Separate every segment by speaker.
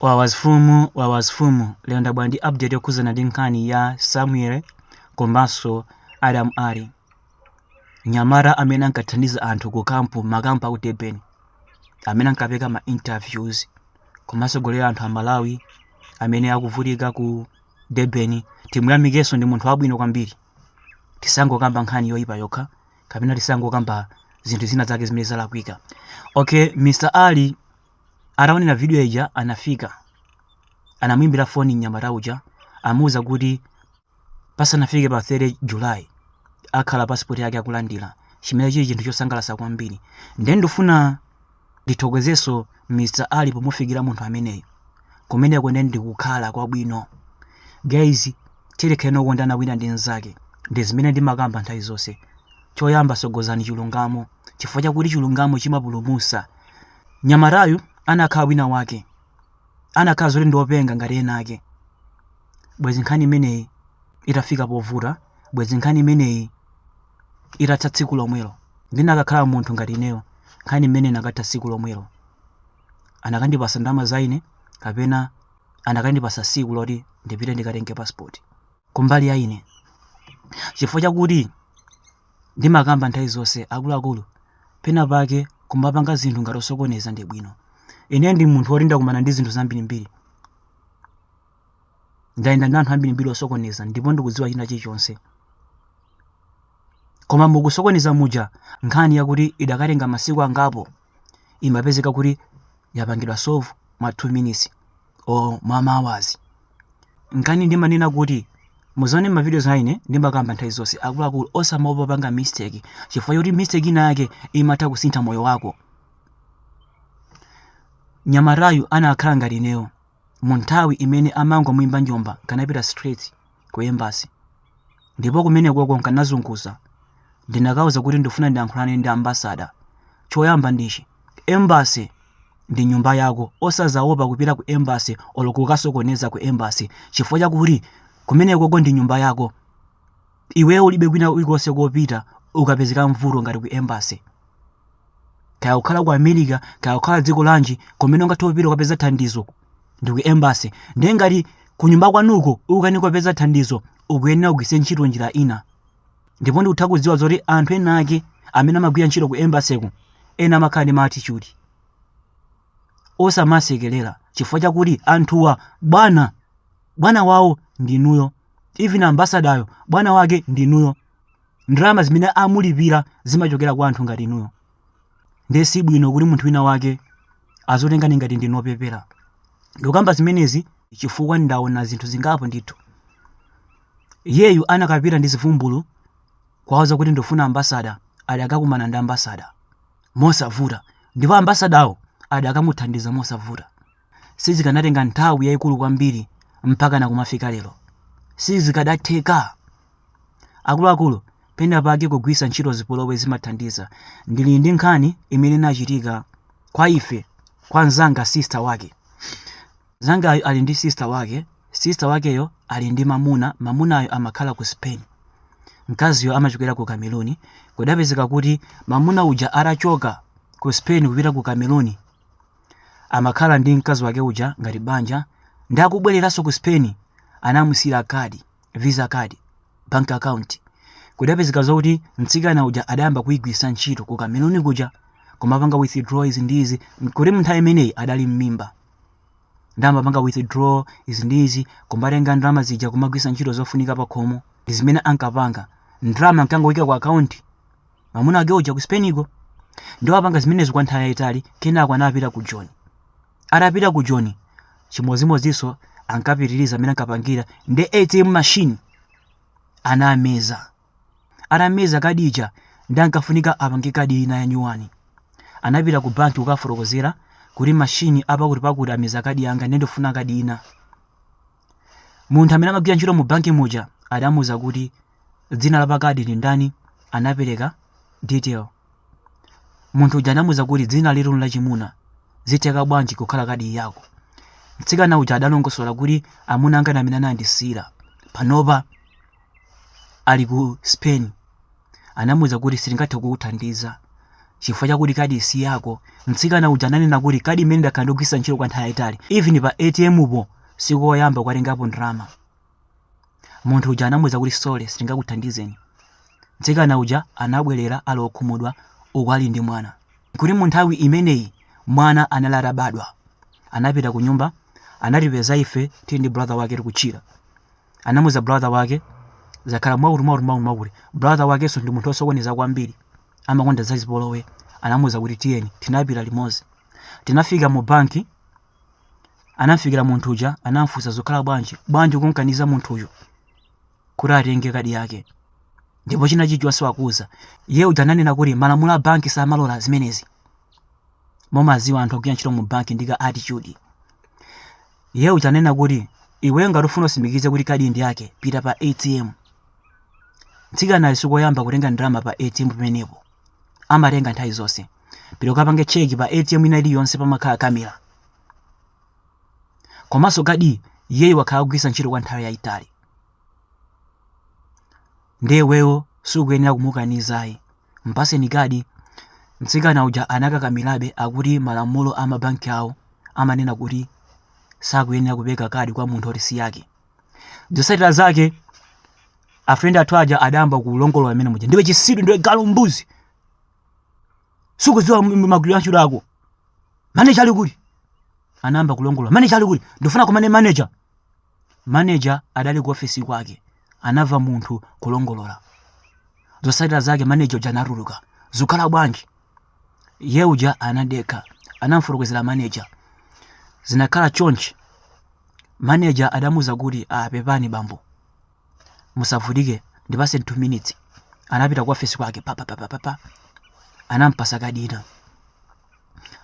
Speaker 1: Wawas Fumu Wawas Fumu lero ndabwera ndi update yokhudzana ndi nkhani ya Samuel komanso Adam Ali mnyamata amene ankathandiza anthu ku kampu makampu aku Durban amene ankapanga ma interviews komanso kujambula anthu a Malawi amene akuvutika ku Durban timuyamikenso ndi munthu wabwino kwambiri tisangokamba nkhani yoyipa yokha kapena tisangokamba zinthu zina zake zimene zalakwika okay Mr. Ali ataonera video ija anafika anamuimbira foni mnyamata uja amuuza kuti pasanafike pa 30 july akhale pasipoti yake akulandira chimene chili chinthu chosangalatsa kwambiri ndiye ndifuna ndithokozenso mr ali pomufikira munthu ameneyo kumeneko ndiye ndikukhala kwabwino guys tilekeni tikondane wina ndi mnzake ndi zimene ndimakamba nthawi zonse choyamba sogozani chilungamo chifukwa chakuti chilungamo chimapulumusa mnyamatayu anakhala wina wake anakhala zoti ndiopenga ngati ena ake bwezi nkhani imeneyi itafika povuta bwezi nkhani imeneyi itatha tsiku lomwelo ndinakakhala munthu ngati ineyo nkhani imeneyi inakatha tsiku lomwelo anakandipasa ndama za ine kapena anakandipasa siku loti ndipite ndikatenge passport kumbali ya ine chifukwa chakuti Ndimakamba nthawi zonse akuluakulu pena pake kumapanga zinthu ngati osokoneza ndi bwino. Ine ndi munthu woti ndakumana ndi zinthu zambirimbiri. Ndayenda ndi anthu ambirimbiri osokoneza ndipo ndikudziwa china chilichonse. Koma mukusokoneza muja nkhani yakuti idakatenga masiku angapo imapezeka kuti yapangidwa solve mwa 2 minutes. or mwa ma awazi mkani ndimanena kuti muzaone ma videos a ine ndimakamba nthawi zonse akuluakulu osamaopa kupanga mistake chifukwa choti mistake ina yake imatha kusintha moyo wako mnyamatayu anakhala ngati ineyo mu nthawi imene amangomuimba njomba nkanapita straight ku embassy ndipo kumenekoko nkanazunguza ndinakawauza kuti ndifuna ndiyankhulane ndi ambasada choyamba ndichi embassy ndi nyumba yako osazaopa kupita ku embassy olo kukasokoneza ku embassy chifukwa chakuti kumenekoko ndi nyumba yako iwe ulibe kwina kulikonse kopita ukapezeka mmavuto ngati ku embassy kaya ukhala ku america kaya ukhala dziko lanji kumene ungathe kupita ukapeza thandizo ndi ku embassy ndiye ngati kunyumba kwanuko ukanikopeza thandizo ukuyenera kugwiritsa ntchito njira ina ndipo ndikutha kudziwa zoti anthu ena ake amene amagwira ntchito ku embassy-ku ena amakhala ndi maatitude osamasekerera chifukwa chakuti anthuwa bwana bwana wawo ndinuyo even ambasadayo bwana wake ndinuyo ndalama zimene amulipira zimachokera kwa anthu ngati inuyo ndiye si bwino kuti munthu wina wake azotengani ngati ndinu opepera ndikukamba zimenezi chifukwa ndaona zinthu zingapo ndithu iyeyu akanapita ndi zivumbulo kukawauza kuti ndifuna ambasada akadakumana ndi ambasada mosavuta ndipo ambasadawo akadamuthandiza mosavuta sizikanatenga nthawi yayikulu kwambiri mpakana kumafika lero sizikanatheka akuluakulu pena pake kugwiritsa ntchito zipolowe zimathandiza ndili ndi nkhani imene inachitika kwa ife kwa mnzanga sister wake mnzangayo ali ndi sister wake sister wakeyo ali ndi mamuna mamunayo amakhala ku spain mkaziyo amachokera ku cameroon kudapezeka kuti mamuna uja adachoka ku spain kupita ku cameroon amakhala ndi mkazi wake uja ngati banja ndikubwereranso ku spain anamusiyira kadi visa card bank account kudapezeka zokuti mtsikana uja adayamba kuyigwiritsa ntchito ku cameroon kuja kumapanga withdraw izi ndi izi kuti munthawi imeneyi adali mmimba ndi amapanga withdraw izi ndi izi kumatenga ndalama zija kumagwiritsa ntchito zofunika pakhomo ndi zimene ankapanga ndalama ankangoyika ku akaunti mwamuna wake uja ku spainiko ndiye wapanga zimenezo kwa nthawi yayitali kenako anapita ku joni atapita ku joni chimodzimodzinso ankapitiriza mmene ankapangira ndi atm machine anameza atameza kadi ija ndiye ankafunika apange kadi ina yanyuwani anapita ku banki kukafotokozera kuti mashini apakuti pakuti ameza kadi yanga ndiye ndifuna kadi ina munthu amene amagwira ntchito mu banki muja adamuuza kuti dzina la pakadi ndi ndani anapereka detail munthu uja adamuuza kuti dzina ili ndi lachimuna zitheka bwanji kukhala kadi yako mtsikana uja adalongosola kuti amuna anga ndi amene anandisiyira panopa ali ku Spain anamuuza kuti sitingathe kukuthandiza chifukwa chakuti kadi si yako. Mtsikana uja ananena kuti kadi imeneyi ndakhala ndikugwiritsa ntchito kwa nthawi yayitali, even pa ATM po sikoyamba kukatengapo ndalama. Munthu uja anamuuza kuti sorry, sitingakuthandizeni. Mtsikana uja anabwerera ali wokhumudwa uku ali ndi mwana. Kuti mu nthawi imeneyi mwana anali atabadwa. Anapita ku nyumba, anatipeza ife tili ndi brother wake tikutchila. anamuuza brother wake zakhala mwakuti mwakuti mwakuti mwakuti brother wakenso ndi munthu osokoneza kwambiri amakonda zazipolowe anamuuza kuti tiyeni tinapita limodzi tinafika mu banki anamfikira munthu uja anamfunsa zakhala bwanji bwanji kumkaniza munthuyu kuti atenge kadi yake pomwe china chichonse wakuuza iye uja ananena kuti malamulo a banki samalola zimenezi mumadziwa anthu akugwira ntchito mu banki ndi ka attitude Iye uja anena kuti, Iweyo ngati ufuna utsimikize kuti kadiyi ndi yake, pita pa atm. Mtsikanayu sikoyamba kutenga ndalama pa atm pamenepo. Amatenga nthawi zonse. Pita ukapange cheki pa atm ina iliyonse pamakhala kamera. Komanso kadiyi iyeyu wakhala akugwiritsa ntchito kwa nthawi yayitali. Ndiye iweyo sukuyenera kumukaniza ayi. Mpaseni kadi. Mtsikana uja anakakamirabe akuti malamulo a mabanki awo amanena kuti sakuyenera kupereka kadi kwa munthu oti si yake. Zotsatira zake afrendi athu aja adayamba kulongolola mmene muja. Ndiwe chisiru, ndiwe galu mbuzi. Sukudziwa m- m- magwiridwe a ntchito ako. Maneja ali kuti? Anayamba kulongolola. Maneja ali kuti? Ndifuna kumane maneja. Manager adali ku ofesi kwake anava munthu kulongolola zosatira zake manager uja anatuluka zukhala bwanji iye uja anadekha anamfotokozera manager zinakhala chonchi manager adamuza kuti ah pepani bambo musavutike ndipase 2 minutes anapita ku ofesi kwake pa pa pa pa pa anampasa kadi ina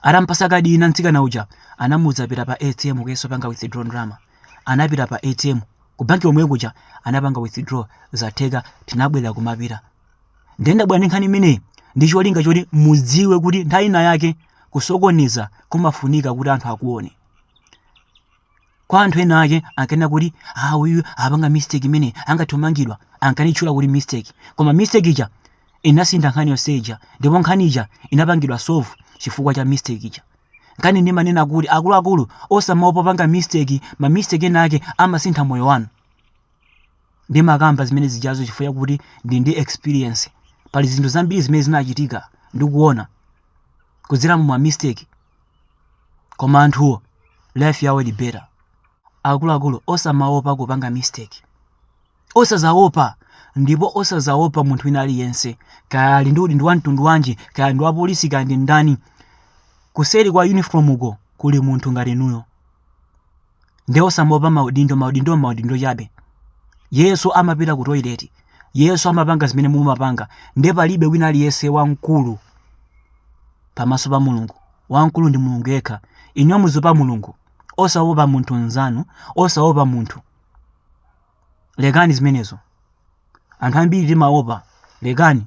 Speaker 1: Atampasa kadi ina mtsikana uja anamuuza pita pa ATM ukayese kupanga withdraw ndalama. Anapita pa ATM ku banki yomwe kuja anapanga withdraw zatheka tinabwerera kumapita. Nde ndabwera ndi nkhani imeneyi ndi cholinga choti mudziwe kuti nthawi ina yake kusokoneza kumafunika kuti anthu akuone. Kwa anthu ena ake ankanena kuti ah awa apanga mistake imene angathe kumangidwa ankanitchula kuti mistake koma mistake ija inasintha nkhani yonse ija ndipo nkhani ija inapangidwa solve chifukwa cha mistake ija nchifukwa ndimanena kuti akuluakulu osamaopa kupanga mistake ma mistake ena ake amasintha moyo wanu ndimakamba zimene zijazo chifukwa chakuti ndili ndi experience pali zinthu zambiri zimene zinachitika ndikuona kudzera mu ma mistake koma anthuwo life yawo ili better akuluakulu osamaopa kupanga mistake osazaopa ndipo osazaopa munthu wina aliyense kaya ali ndi udindo wa mtundu wanji kaya ali ndi wapolisi kaya ndi ndani kuseri kwa uniform uko kuli munthu ngati inuyo nde osamaopa maudindo maudindo ndi maudindo chabe iyenso amapita ku toilet iyenso amapanga zimene mumapanga nde palibe wina aliyense wamkulu pamaso pa mulungu wamkulu ndi mulungu yekha inuyo muziopa mulungu osaopa munthu mnzanu osaopa munthu lekani zimenezo anthu ambiri timaopa lekani